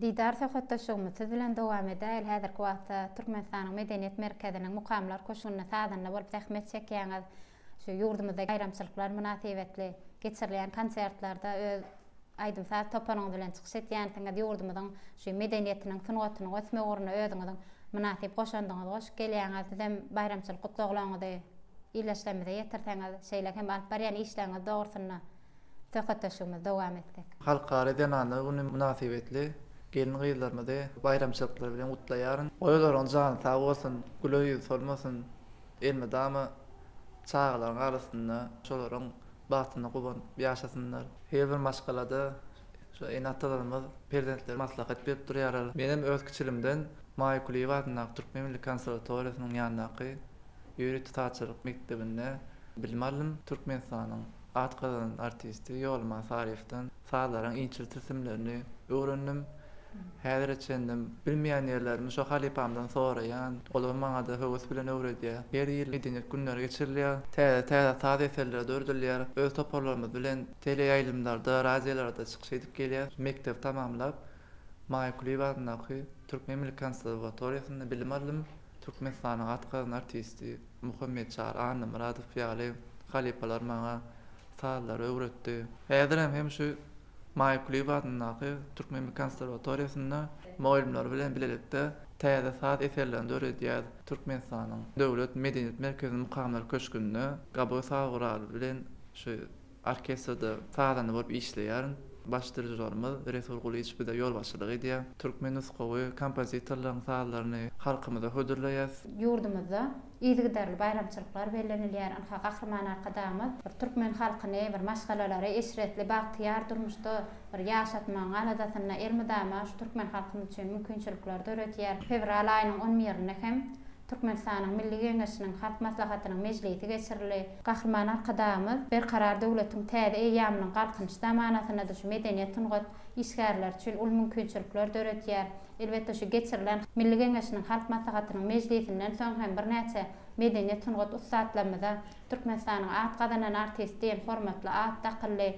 Didar söhbetdeşligimiz siz bilen dowam edäýl, häzirki wagtda Türkmenistanyň Medeniýet merkeziniň Mukamlar köşgünde sazanda bolup zähmet çekýäňiz, şu ýurdumyzda baýramçylyklar mynasybetli geçirilýän konsertlerde öz aýdym-saz toparyňyz bilen çykyş etýänsiňiz, ýurdumyzyň şu medeniýetiniň, sungatynyň ösmegi ugrunda özüňiziň mynasyp goşandyňyzy goşup gelýäňiz, sizem baýramçylyk gutlaglaryňyzy ildeşlerimize ýetirseňiz, şeýle hem alyp barýan işleriňiz dogrusynda. söhbetdeşligimizi dowam etsek. Halkara zenanlar güni mynasybetli gelin-gyzlarymyzy baýramçylyklary bilen gutlaýaryn. Goý olaryň jany sag bolsun, güler ýüzi solmasyn, elmydama çagalaryň arasynda şolaryň bagtyna guwanyp ýaşasynlar. Her bir maşgalada şu ene-atalarymyz perzentlere maslahat berip durýarlar. Menem öz kiçiligimden Maýa Kulyýewa adyndaky Türkmen milli konserwatoriýasynyň ýanyndaky ýörite sazçylyk mekdebinde bilim aldym. Türkmenistanyň At gazanan artisti Ýolman Saryýewden sazlaryň inçe tilsimlerini öwrendim. Häzire çenlem bilmeýän ýerlerimi şo halypamdan soraýan. Olar maňa-da höwes bilen öwredýär. Her ýyl medeniýet günleri geçirilýär. Täze-täze saz eserleri döredilýär. Öz toparlarymyz bilen teleýaýlymlarda, radiolarda çykyş edip gelýäs. Mekdebi tamamlap, Maýa Kulyýewa adyndaky Türkmen milli konserwatoriýasynda bilim aldym. Türkmenistanyň at gazanan artisti. Muhammet Çary Annamyradow ýaly halypalar maňa sazlary öwretdi. Häzirem hem şu Maýa Kulyýewa adyndaky Türkmenmi konserwatoriýasynda mugallymlary bilen bilelikde täze saz eserlerini döredýäs. Türkmenistanyň Döwlet medeniýet merkeziniň Mukamlar köşgünde Gabow saz guraly bilen şu Orkestrde sazanda bolup işleýärin. Baş dirižorymyz Resul Gulyç bize ýolbaşçylyk edýär. Türkmen nusgawy kompozitorlaryň sazlaryny halkymyza hödürleýäs. Ýurdumyzda yzygiderli baýramçylyklar bellenilýär. Ynha, Gahryman Arkadagymyz bir türkmen halkyny bir maşgalalary eşretli, bagtyýar durmuşda bir ýaşatmagyň aladasynda elmydama şu türkmen halkymyz üçin mümkinçilikler döredýär. Fewral aýynyň on birinde hem Türkmenistanyň Milli Geňeşiniň Halk Maslahatynyň mejlisi geçirildi. Gahryman Arkadagymyz Berkarar döwletiň täze eýýamynyň Galkynyş zamanasynda-da şu medeniýet-sungat işgärleri üçin uly mümkinçilikler döredýär. Elbetde, şu geçirilen Milli Geňeşiniň Halk Maslahatynyň mejlisinden soň hem birnäçe medeniýet-sungat ussatlarymyza Türkmenistanyň at gazanan artisti diýen hormatly at dakyldy.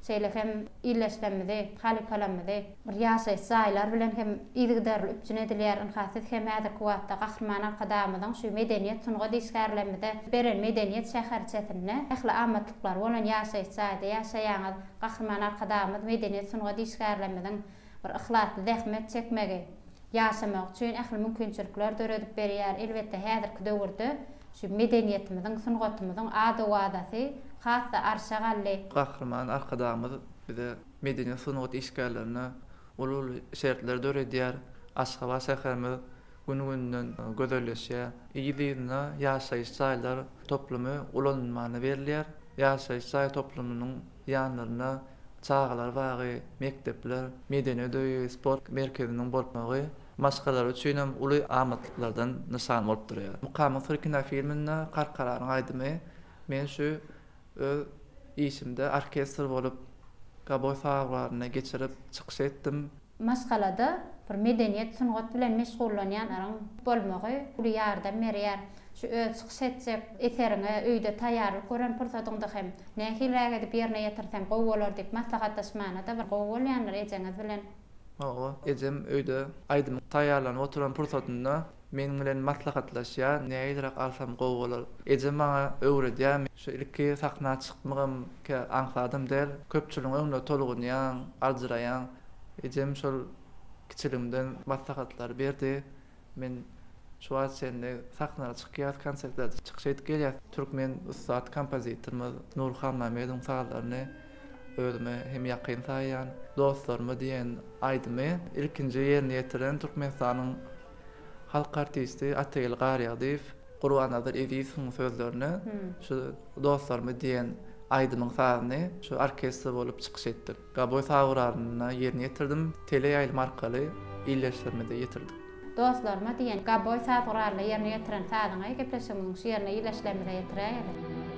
Şeýle hem illeşmemizi, halypalamyzy bir ýaşaýyş jaýlar bilen hem yzygiderli üpjün edilýär. Ynha, siz hem häzirki wagtda Gahryman Arkadagymyzyň şu medeniýet-sungat işgärlerimize beren medeniýet şäherçesinde, ähli amatlyklary bolan ýaşaýyş jaýda ýaşaýaňyz. Gahryman Arkadagymyz medeniýet-sungat işgärlerimiziň bir yhlasly zähmet çekmegi, ýaşamagy üçin ähli mümkinçilikleri döredip berýär. Elbetde, häzirki döwürde şu medeniýetimiziň, sungatymyzyň ad-owazasy has-da arşa galdy. Gahryman Arkadagymyz bize medeniýet-sungat işgärlerine uly-uly şertleri döredýär. Aşgabat şäherimiz gün-günden gözelleşýär. Yz-yzyna ýaşaýyş jaýlar toplumy ulanmana berilýär. Ýaşaýyş jaý toplumynyň ýanlarynda çagalar bagy, mekdepler, medeniýet öýi, sport merkeziniň bolup durmagy maşgalalar üçin hem uly amatlyklardan nyşan bolup durýar. Mukamyň syry kinofilminde Karkaranyň aýdymy Men şu öz işimde orkestr bolup Gabow saýawlarynda geçirip çykyş etdim. Maşgalada bir medeniýet, sungat bilen meşgullanýanlaryň bolmagy uly ýardam berýär. Şu öz çykyş etjek eseriňe öýde taýýarlyk gören pursadyňda hem nähiliräk edip ýerine ýetirsem gowy bolar diýip maslahatlaşmana-da bir gowy bolýandyr ejeňiz bilen. Hawa, ejem öýde aýdymyň taýýarlanyp oturan pursatynda meniň bilen maslahatlaşýar, nähiliräk alsam gowy bolar. Eje maňa öwredýär. Şu ilki sahna çykmagym kä aňsadam däl. Köpçüligiň öňünde tolgunýaň, aljyraýaň. Ejem şol kiçiligimden maslahatlary berdi. Men şu wagta çenli sahnalary çykýas, konsertlerde çykyş edip gelýäs. Türkmen ussat kompozitorymyz Nury Hanmämmedowyň sazlaryny özüme hem ýakyn saýýan Dostlaryma diýen aýdymy ilkinji ýerine ýetiren Türkmenistanyň halk artisti Atageldi Garýagdyýew, Gurbannazar Ezizowyň sözlerine şu Dostlaryma diýen aýdymyň sazyny şu orkestr bolup çykyş etdik. Gaboý Saurarynda ýerine ýetirdim. Teleýaýlym arkaly ildeşlerimize ýetirdik. Dostlaryma diýen Gaboý Saurarynda ýerine ýetiren sazyňy gepleşigimiziň şu ýerine ildeşlerimize ýetiräýeli.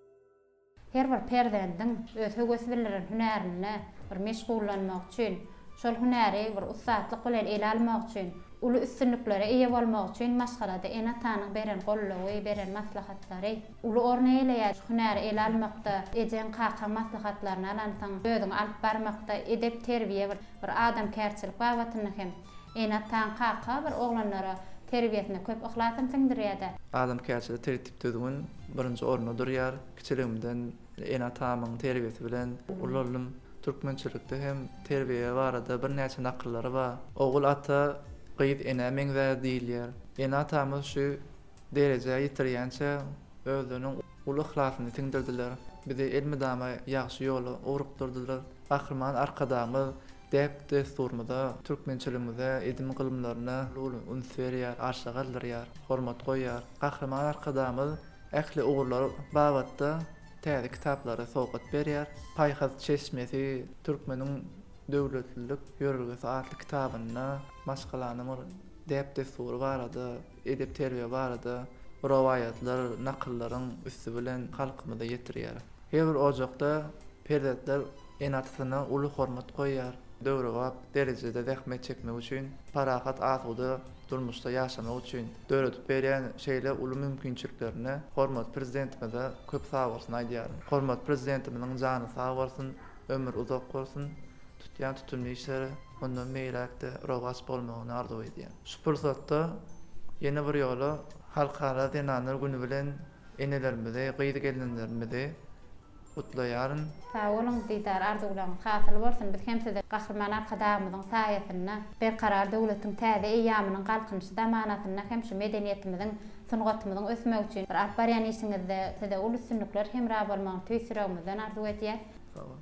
Her bir perzendiň öz höwes bildiren hünärinde bir meşgullanmak üçin, şol hünäri bir ussatlyk bilen ele almak üçin, uly üstünliklere eýe bolmak üçin maşgalada ene-atanyň beren goldawy, beren maslahatlary uly orun eýeleýär. Şu hünäri ele almakda ejeň, kakaň maslahatlaryny alansyň, özüňi alyp barmakda edep-terbiýe, bir adamkärçilik babatynda hem. Ene-ataň, kaka bir oglanlara terbiýesine köp yhlasyn siňdirýär-dä. Adamkärçilik tertip-düzgün birinji orunda durýar. Kiçiligimden ene-atamyň terbiýesi bilen ulaldym. Türkmençilikde hem terbiýe barada birnäçe nakyllary bar. Ogul ata, gyz enä meňzär diýilýär. Ene-atamyz şu derejä ýetirýänçä özleriniň uly yhlasyny siňdirdiler. Bizi elmydama ýagşy ýola ugrukdyrdylar. Gahryman Arkadagymyz Däp-dessurymyza, türkmençiligimize, edim-gylymlaryna uly üns berýär, arşa galdyrýar, hormat goýýar. Gahryman Arkadagymyz ähli ugurlar babatda täze kitaplary sowgat berýär. Paýhas çeşmesi Türkmeniň döwletlilik ýörelgesi atly kitabynda maşgalanyň bir däp-dessury barada, edep-terbiýe barada rowaýatlar, nakyllaryň üsti bilen halkymyza ýetirýär. Her bir ojakda perzentler ene-atasyna uly hormat goýýar, döwrebap derejede zähmet çekmek üçin, parahat, asuda durmuşda ýaşamak üçin döredip berýän şeýle uly mümkinçiliklerine hormatly Prezidentimize köp sag bolsun aýdýaryn. Hormatly Prezidentimiziň jany sag bolsun, ömri uzak bolsun, tutýan tutumly işleri mundan beýläk-de rowaç bolmagyny arzuw edýän. Şu pursatda ýene bir ýola Halkara zenanlar güni bilen enelerimizi, gyz gelnenlerimizi gutlaýaryn. Sag boluň Didar arzuwlaryňyz hasyl bolsun biz hem size Gahryman Arkadagymyzyň saýasynda Berkarar döwletiň täze eýýamynyň Galkynyşy zamanasynda hem şu medeniýetimiziň sungatymyzyň ösmegi üçin bir alyp barýan işiňizde size uly üstünlikler hemra bolmagyny tüýs ýüregimizden arzuw edýäs. Sag bol.